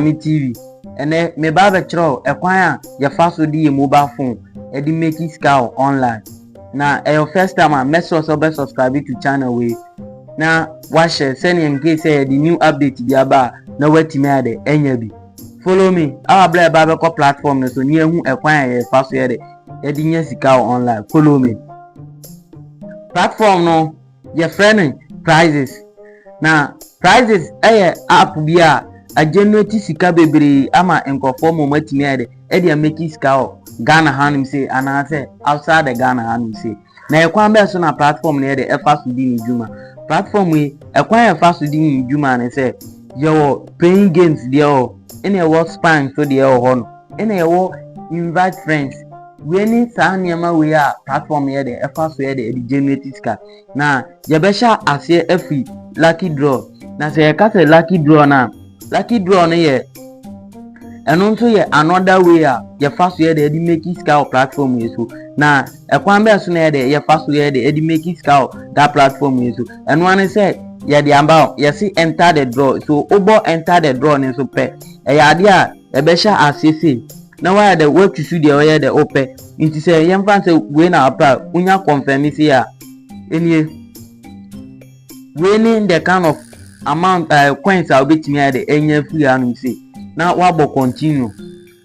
me TV. Ɛnɛ, meba abɛkyerɛ wo ɛkwan a yɛfa so de yɛn mobile phone de make sika wɔ online. Na ɛyɛ wo first time a, mɛsrɛ wo sɛ wobɛ subscribe to channel wei na wahyɛ sɛnea in case sɛ yɛde new update bi aba a, na woatumi ayɛ dɛ anya bi. Follow me awa berɛ a ɛba bɛkɔ platform no so ne yɛahu ɛkwan a yɛfa so yɛ dɛ yɛde nya sika wɔ online. Follow me. Platform no Yɛfrɛ no Prizes. Na Prizes yɛ app bi a agenerate sika bebree ama nkurɔfoɔ ma wɔatumi ayɛ dɛ ɛde ameki sika wɔ Ghana hanom sei anaasɛ outside the Ghana hanom sei. Na ɛkwan bɛn so na platform no yɛ dɛ ɛfa so di ne dwuma? Platform yi, ɛkwan a ɛfa so di ne dwuma ne sɛ, yɛwɔ playing games deɛ wɔ hɔ, ɛnna ɛwɔ spying nso deɛ wɔ hɔ no. ɛna yɛwɔ invite friends wei ne saa nneɛma wei a platform yɛ dɛ ɛfa so yɛ dɛ ɛde generate sika na yɛbɛhyɛ aseɛ afiri lucky draw na sɛ yɛka sɛ lucky draw no a lucky draw no yɛ ɛno nso yɛ another way a yɛfa so yɛ dɛ ɛde make sika wɔ platform yi so na ɛkwan bɛɛ so na yɛ dɛ yɛfa so yɛ dɛ ɛde make sika wɔ that platform yi so ɛno ano sɛ yɛde aba yɛsi enter the draw so wobɔ enter the draw no nso pɛ ɛyɛ adeɛ a Ɛbɛhyɛ aseɛ sei na woayɛ dɛ woatu su deɛ ɔyɛ dɛ wopɛ nti sɛ yɛmfa no sɛ wei na wopɛ a wonya kɔnfɛme sei a ɛnie wei ne the kind of amount uh, coins a wobɛtumi ayɛ dɛ ɛnya afiri anom sei na woabɔ continue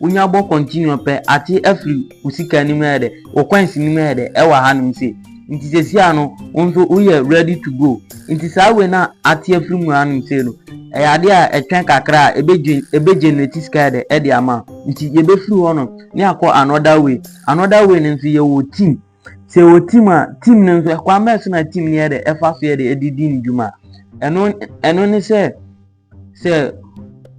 wonya bɔ continue pɛ ate afiri wo sika no mu ayɛ dɛ wo coins no mu ayɛ dɛ ɛwɔ ha nom sei Nti sesia no wo nso woyɛ ready to go. Nti saa wei na ate afiri mu anom sei no, ɛyɛ adeɛ a ɛtwɛn kakra a ɛbɛ generate sika yɛ dɛ ɛde ama wo. Nti yɛbɛfiri hɔ nom ne akɔ another way. Another way no nso yɛwɔ team. Sɛ yɛwɔ team a, team no nso ɛkwan bɛn so na team no yɛ dɛ ɛfa so yɛ dɛ ɛde di ne dwuma. Ɛno ne sɛ. Sɛ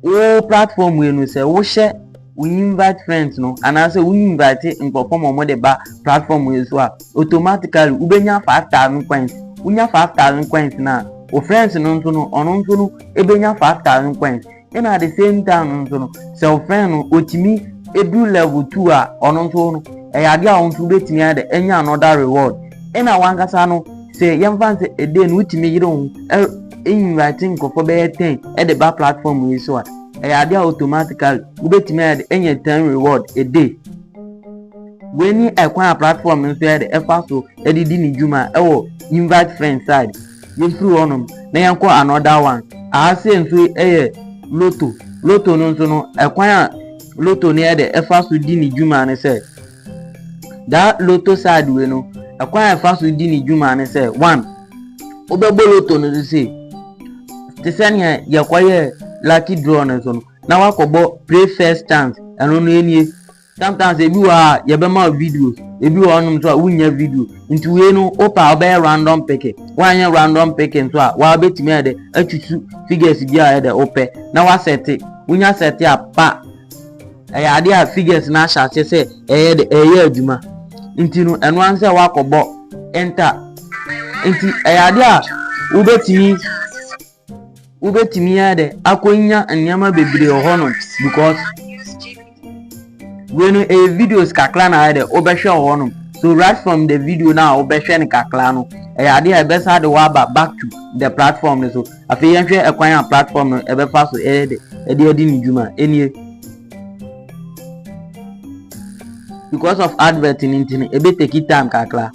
wo platform yi no sɛ wohyɛ wo invite friends no anaasɛ wo invite nkurɔfoɔ ma wɔde ba platform yi so a automatically wobɛnya 5000 coins wonya 5000 coins no a wo friends no nso no ɔno nso no ɛbɛnya 5000 coins ɛna at the same time no nso no sɛ wo friend no ɔtumi ɛduru level 2 a ɔno nso no ɛyɛ adeɛ a wo nso wobɛtumi ayɛ dɛ ɛnya another reward ɛna wankasa no sɛ yɛmfa sɛ ɛdɛ no wotumi yere wo invite nkurɔfoɔ bɛyɛ ten ɛde ba platform yi so a ɛyɛ adeɛ a automatically wobɛtumi ayɛ de ɛnyɛ ten reward ɛdɛ wei ne ɛkwan a platform nso yɛ de ɛfa so ɛde di ne dwuma ɛwɔ invite friend side yɛmfiri hɔnom na yɛnkɔ another one aha sɛ nso ɛyɛ loto loto no nso no ɛkwan a loto no yɛ de ɛfa so di ne dwuma ne sɛ Daa loto side wei no, ɛkwan a ɛfa so di ne dwuma ne sɛ, one, wobɛbɔ loto no so sei, te sɛ nea yɛkɔyɛ lucky draw no nso no, na wakɔbɔ pray first chance, ɛno no enie. Sometimes ebi wɔ a yɛbɛma wo videos, ebi wɔ hɔnom nso a wonnya video. Nti wei no wopɛ a wobɛyɛ random picking, woanyɛ random picking nso a waa wobɛtumi ayɛ dɛ atwitwi figures bi a yɛ dɛ wopɛ na woasɛte, wonya sɛte a pa ɛyɛ adeɛ a figures no ahyɛ aseɛ sɛ ɛyɛ de ɛyɛ adwuma nti no ɛno ara sɛ wakɔbɔ enter nti ɛyɛ adeɛ a wobɛtumi wobɛtumi ayɛ dɛ akɔnya nneɛma bebree wɔ hɔ no because wei no ɛyɛ videos kakra na ayɛ dɛ wobɛhwɛ wɔ hɔ no so right from the video no a wobɛhwɛ no kakra no ɛyɛ adeɛ a ɛbɛsa de waba back to the platform no so Afei yɛnhwɛ ɛkwan a platform no ɛbɛfa so ɛde adi ne dwuma. Ɛnie. Because of advert no nti no, ɛbɛ take time kakra.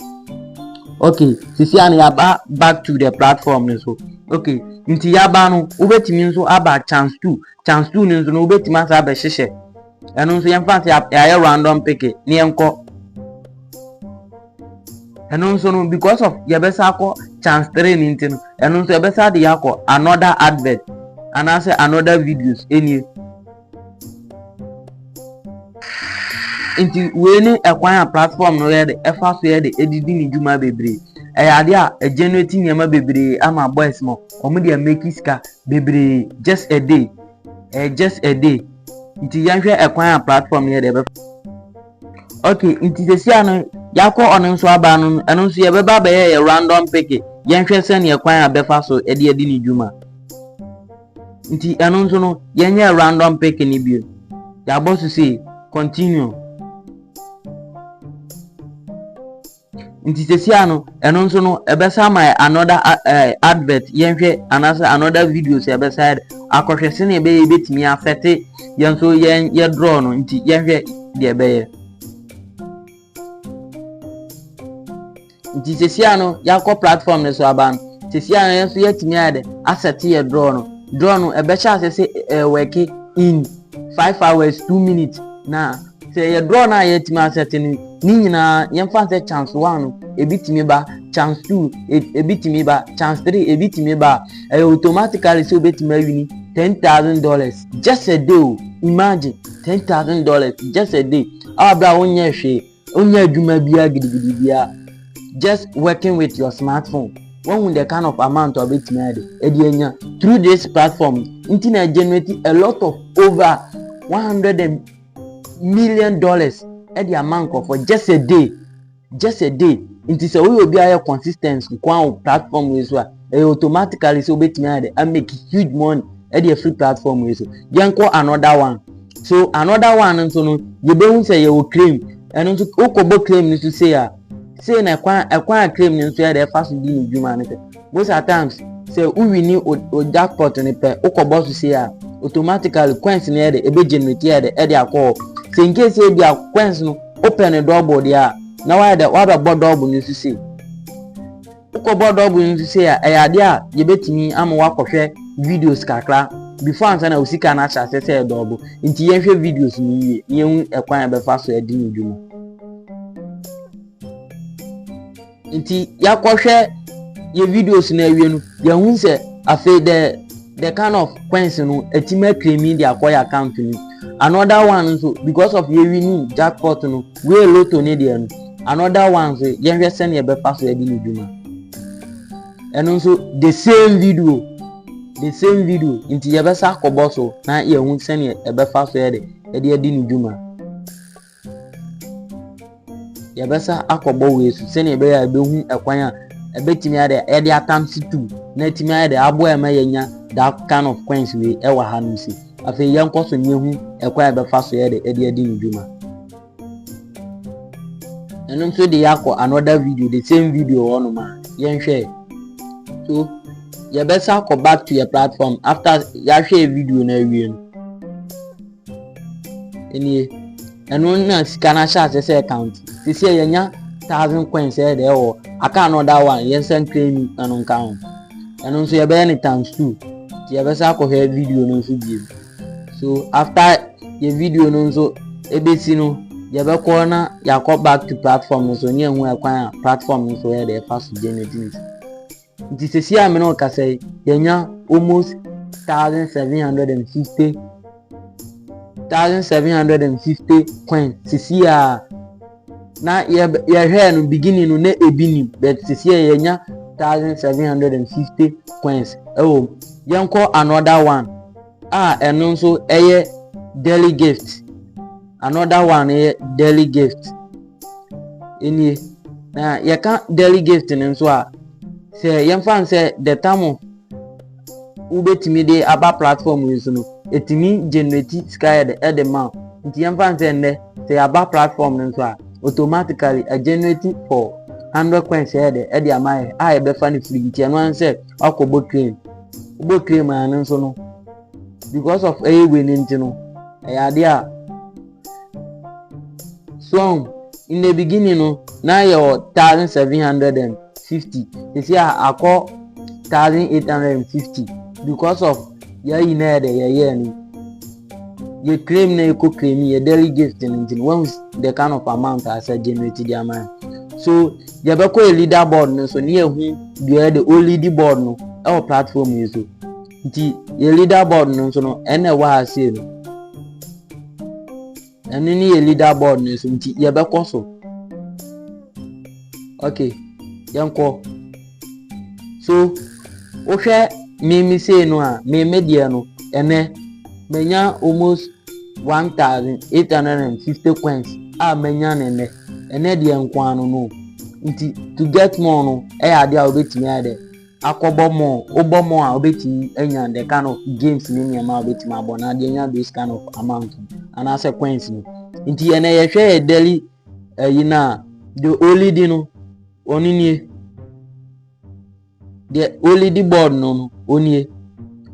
Okay, sisi a no yɛaba back to the platform no so. Okay, nti yɛaba no, wobɛtumi nso aba chance two. Chance two no nso no, wobɛtumi asa abɛhyehyɛ. Ɛno nso yɛmfa sɛ yɛayɛ random pick, ne yɛnkɔ. Ɛno nso no because of yɛbɛsa akɔ chance three no nti no ɛno nso ɛbɛsa de yɛakɔ another advert anaasɛ another videos ɛnie nti wei ne ɛkwan a platform no yɛ de ɛfa so yɛ de ɛdidi ne dwuma bebree ɛyɛ adeɛ a ɛgenerate nneɛma bebree ama boys no wɔn deɛ make sika bebree just a day ɛyɛ just a day nti yɛnhwɛ ɛkwan a platform no yɛ de ɛbɛfa Ok nti sɛsi a no yɛakɔ ɔno nso aba no ɛno nso yɛbɛba abɛyɛ yɛ random pick yɛnhwɛ sɛneɛ kwan a bɛfa so ɛde adi ne dwuma nti ɛno nso no yɛnyɛ random pick no bio yɛabɔ so sei continue Nti sesia no ɛno nso no ɛbɛsan ma yɛ another eh, advert yɛnhwɛ anaasɛ another video sɛ ɛbɛsan akɔhwɛ sɛnea ɛbɛyɛ yɛbɛtumi afɛte yɛn nso yɛn yɛ draw no nti yɛnhwɛ deɛ ɛbɛyɛ nti sesia no yɛakɔ platform no so aba no sesia no yɛn nso yɛatumi ayɛ dɛ asɛte yɛ draw no draw no ɛbɛhyɛ asɛ sɛ ɛwɛke in five hours two minutes na Sɛ ɛyɛ draw no a yɛatumi asɛte no ne nyinaa yɛmfa nsɛ chance one no ebi tumi ba chance two ebi tumi ba chance three ebi tumi ba a ɛyɛ automatically sɛ obetumi awini ten thousand dollars just a day o imagine ten thousand dollars just a day awa bere a wonyɛ hwee wonyɛ adwuma biara gidigidi biara just working with your smartphone wɔhu the kind of amount a obetumi ayɛ de ɛde anya through this platform nti na generate a lot of over one hundred and million dollars ɛde ama nkorɔfoɔ just a day just a day nti sɛ woyɛ obi ayɛ consistent nkoa wɔ platform wei so a ɛyɛ automatically sɛ wobɛtumi ayɛ de amake huge money ɛde afiri platform wei so yɛnkɔ another one so another one nso no yɛbɛhu sɛ yɛwɔ claim ɛno nso wokɔbɔ claim no so sei a sei na ɛkwan ɛkwan a claim no nso yɛ de ɛfa so di ne dwuma no sɛ Most at times sɛ wo wini o jackpot no pɛ wokɔ bɔ so sei a automatically coins no yɛ de ebe generate yɛ de ɛde akɔ hɔ sɛ in case ebi a coins no wopɛ no double deɛ a na wayɛ dɛ wabɛbɔ double no nso sei wokɔbɔ double no nso sei a ɛyɛ adeɛ a yɛbɛtumi ama wakɔhwɛ videos kakra before ansa na wo sika no ahyɛ aseɛ sɛ yɛ double nti yɛnhwɛ videos no yie na yɛhu ɛkwan a yɛbɛfa so adi no dwuma nti yɛakɔhwɛ yɛ videos no awie no yɛahu sɛ afei the the kind of coins no ɛtim akremi de akɔ yɛ account no another one nso because of yɛ winning jackpot no wei lotto ne deɛ no another one nso yɛnhwɛ sɛnea ɛbɛfa so adi ne dwuma ɛno nso the same video the same video nti yɛbɛsa akɔbɔ so na yɛahu sɛnea ɛbɛfa so yɛ de ɛde adi ne dwuma yɛbɛsa akɔbɔ wei so sɛnea ɛbɛyɛ a ɛbɛhu ɛkwan a ɛbɛtumi ayɛ dɛ yɛde atam situ na ɛtumi ayɛ dɛ aboa ɛma yɛnya that kind of coins wei ɛwɔ ha nom si afei yɛnkɔ so ne yɛhu ɛkwan a ɛbɛfa so yɛ dɛ ɛde adi ne dwuma ɛno nso de yɛakɔ another video the same video hɔ nom a yɛnhwɛ so yɛbɛsa akɔ back to yɛ platform after yɛahwɛ video no awie no nie ɛno na sika no ahyɛ ase sɛ account sisi a yɛnya thousand coins ɛyɛ deɛ ɛwɔ account no ɔda one yɛn nsa ntwa enu ɛno nka ho ɛno nso yɛbɛyɛ no times two nti yɛbɛsa akɔhwɛ video no nso bio so after yɛ video no nso ebesi no yɛbɛkɔ na yɛakɔ back to platform no so ne ɛho ɛkwan a platform no so yɛ deɛ ɛfa so generate ne sika. Nti sɛsi a me ne wo kasa yi, yɛanya almost 1,750 1,750 coin sɛsi a na yɛhwɛɛ no beginning no na ebi nim but sɛsi a yɛanya 1,750 coins ɛwɔ mu. Yɛnkɔ another one a ɛno nso ɛyɛ daily gift another one yɛ daily gift. nie na yɛka daily gift no nso a sɛ yɛmfa n sɛ the time wobɛtumi de aba platform yi so no ɛtumi generate sika ɛde ma nti yɛmfa n sɛ nnɛ sɛ yɛaba platform no nso a automatically a generate for hundred coins sɛ ɛde ɛde ama yɛ a yɛbɛfa no firi nti ɛno an sɛ wakɔbɔ claim wobɔ claim a no nso no because of ɛyɛ wei no nti no ɛyɛ adeɛ a So ahu? In the beginning no, na yɛwɔ thousand seven hundred and fifty. Sisi a akɔ thousand eight hundred and fifty because of yɛayi na yɛ dɛ yɛyɛ no. Yɛ claim na yɛkɔ claim yɛ daily gift no nti no, wɔn the kind of amount a sɛ generate di ama yɛn. So yɛbɛkɔ yɛ leader board no so ne yɛhu deɛ yɛde o lead board no ɛwɔ platform yi so. nti yɛ leader board no nso no ɛna ɛwɔ ha sei no ɛno ne yɛ leader board no nso nti yɛbɛkɔ so okay yɛnkɔ so wohwɛ meme sei no a meme deɛ no ɛnɛ manya almost one thousand eight hundred and fifty coins a manya ne nnɛ ɛnɛ deɛ nkoa no no nti to get more no ɛyɛ adeɛ a wobɛtumi ayɛ dɛ akɔbɔ more, wobɔ more a wobɛtumi anya the kind of games ne nneɛma a wobɛtumi abɔ na adeɛ nya those kind of amount anaasɛ coins no nti ɛnɛ yɛhwɛ yɛ daily ayi no a the only di no ɔno nie the only di board no no ɔnie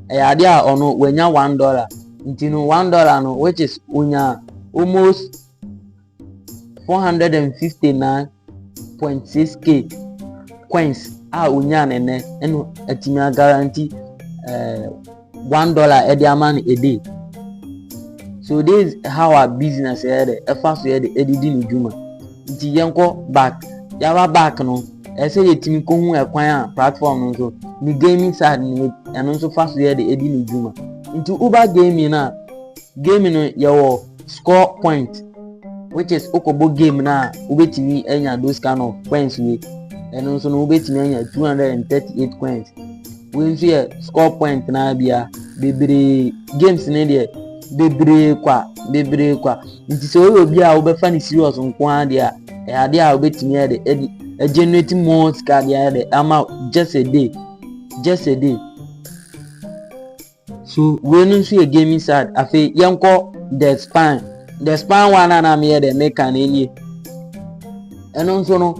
ɛyɛ adeɛ a ɔno wanya one dollar nti no one dollar no which is onya almost 459.6K coins a onyaa no nnɛ ɛna atumi agaranti ɛɛ eh, one dollar ɛde ama no ɛde so this is how our business ɛyɛ dɛ ɛfa so yɛ dɛ ɛde di ne dwuma nti yɛn kɔ back yaba back no ɛsɛ yɛtumi kɔ hu ɛkwan a platform no nso ne gaming side no ɛno nso fa so yɛ dɛ ɛde ne dwuma nti uber gaming a gaming no yɛwɔ. score point which is wokɔbɔ game no a wobɛtumi anya those kind of coins wei ɛno nso no wobɛtumi anya 238 coins wei nso yɛ score point naa bia bebree games no deɛ bebree kwa bebree kwa nti sɛ woyɛ obi a wobɛfa no serious nko ara deɛ a ɛyɛ adeɛ a wobɛtumi ayɛ de ɛde ɛgenerate more sika deɛ ayɛ de ama just a day just a day So wei no nso yɛ gaming side afei yɛnkɔ the span the span one a na meyɛ dɛ meka no nie ɛno nso no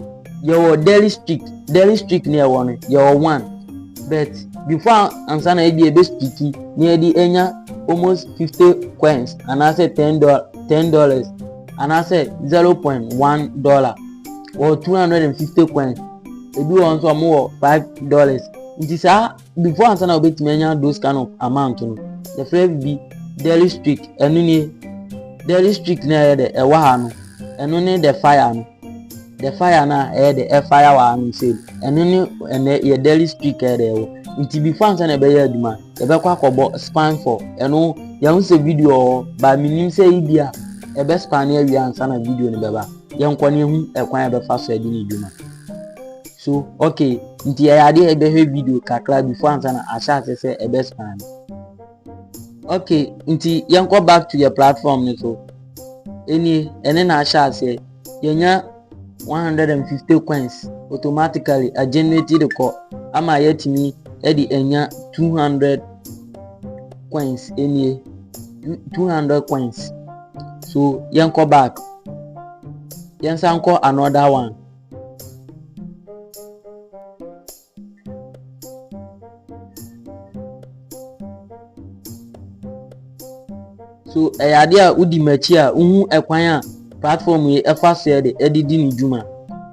yɛwɔ daily streak daily streak ne ɛwɔ no yɛwɔ one but before ansa na ebi ebe streaki na yɛde anya almost fifty coins anaasɛ ten dollar ten dollars anaasɛ zero point one dollar wɔ two hundred and fifty coins ebi wɔ nso wɔn wɔ five dollars nti saa before ansa na wobɛtumi anya those kind of amount no yɛfrɛ bi daily streak ɛno nie daily streak na ɛyɛ dɛ ɛwɔ ha no ɛno ne the fire no the fire na ɛyɛ dɛ ɛfire wɔ ha no sɛ ɛno ne ɛnɛ yɛ daily streak ɛyɛ dɛ ɛwɔ nti before ansa na ɛbɛyɛ adwuma yɛbɛkɔ akɔbɔ span for ɛno yɛho sɛ video ɔ ba menim sɛ yi bi a ɛbɛ span awie ansa na video no bɛba yɛnkɔ ne ɛhu ɛkwan ɛbɛfa so ɛde ne dwuma So okay, nti ɛyɛ adeɛ a ɛbɛhwɛ video kakra before ansa na ahyɛ ase sɛ ɛbɛ scan. Okay, nti yɛnkɔ back to yɛ platform no so. Ɛnie, ɛne na ahyɛ aseɛ. Yɛnya 150 coins automatically a generate de kɔ ama yɛatumi de anya 200 coins ɛnie 200 coins so yɛnkɔ back yɛnsa nkɔ another one so ɛyɛ adeɛ a wodi m'akyi a wohu ɛkwan a platform yi ɛfa so yɛ de ɛde di ne dwuma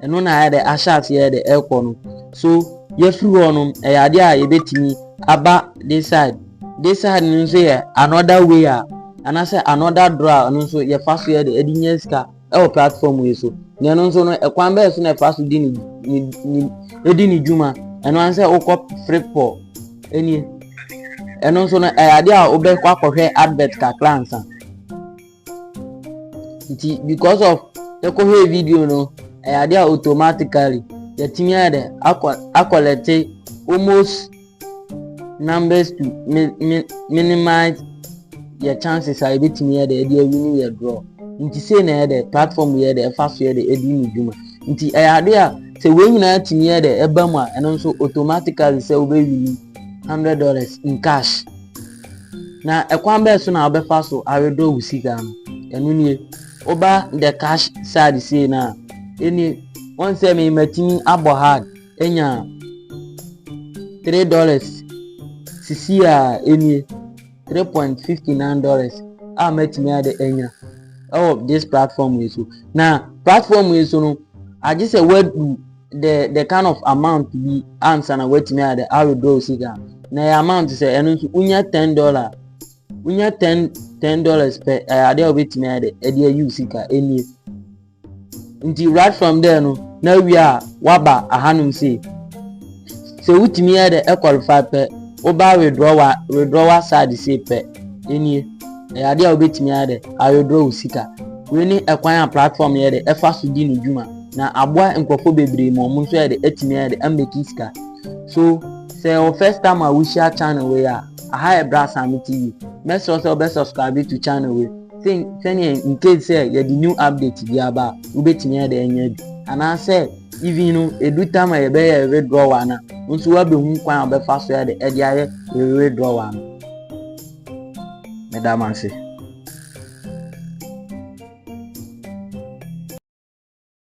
ɛno na ayɛ dɛ ahyɛ aseɛ yɛ de ɛrekɔ no so yɛfiri hɔ no ɛyɛ adeɛ a yɛbɛtumi aba this side this side no nso yɛ another way a anaasɛ another door a ɔno nso yɛfa so yɛ de ɛde nya sika ɛwɔ platform yi so na ɛno nso no ɛkwan bɛyɛ so na ɛfa so di ne ne ne edi ne dwuma ɛno ara sɛ wokɔ flipboard ɛnie ɛno nso no ɛyɛ adeɛ a wobɛkɔ akɔhwɛ advert kakra nsa nti because of ɛkɔhwɛ video no ɛyɛ adeɛ a automatically yɛtumi ayɛ dɛ akɔ akɔlɛte almost numbers to mi mi minimize yɛ chances a yɛbɛtumi yɛ dɛ ɛde awini yɛ draw nti sei na yɛ dɛ platform yɛ dɛ ɛfa so yɛ dɛ ɛdi ne dwuma nti ɛyɛ adeɛ a sɛ wei nyinaa tumi yɛ dɛ ɛba mu a ɛno nso automatically sɛ wobɛwini hundred dollars in cash na ɛkwan bɛɛ so na wobɛfa so awedɔ wo sika no ɛno nie woba the cash side sei no a ɛni wɔn sɛ mematumi abɔ hard anya three dollars sisi a enie three point fifty nine dollars a mɛtumi ade anya ɛwɔ this platform yi so na platform yi so no agye sɛ wadu the the kind of amount bi ansa na watumi ade awedraw sika na ɛyɛ amount sɛ ɛno nso wonya ten dollar wonya ten ten dollars pɛ ɛyɛ adeɛ a wobɛtumi ade ɛde ayi sika enie. Nti right from there no na wie a waba ahanom sei sɛ wotumi yɛ dɛ ɛqualify pɛ woba withdraw wa withdraw wa side sei pɛ ɛnie ɛyɛ adeɛ a wobɛtumi ayɛ dɛ a withdraw wo sika wei ne ɛkwan a platform yɛ dɛ ɛfa so di ne dwuma na aboa nkurɔfoɔ bebree ma ɔmo nso yɛ dɛ ɛtumi ayɛ dɛ ameki sika so sɛ wɔ first time a wohyia channel wei a aha yɛ Brass Ahame TV mɛsrɛ sɛ wobɛ subscribe to channel wei Sen sɛnea in case sɛ yɛde new update bi aba a wobɛtumi ayɛ dɛ anya bi anaasɛ even no ɛdu tam a yɛbɛyɛ withdrawal no a nso woabɛhu kwan a wobɛfa so ɛde ɛde ayɛ withdrawal no meda mo ase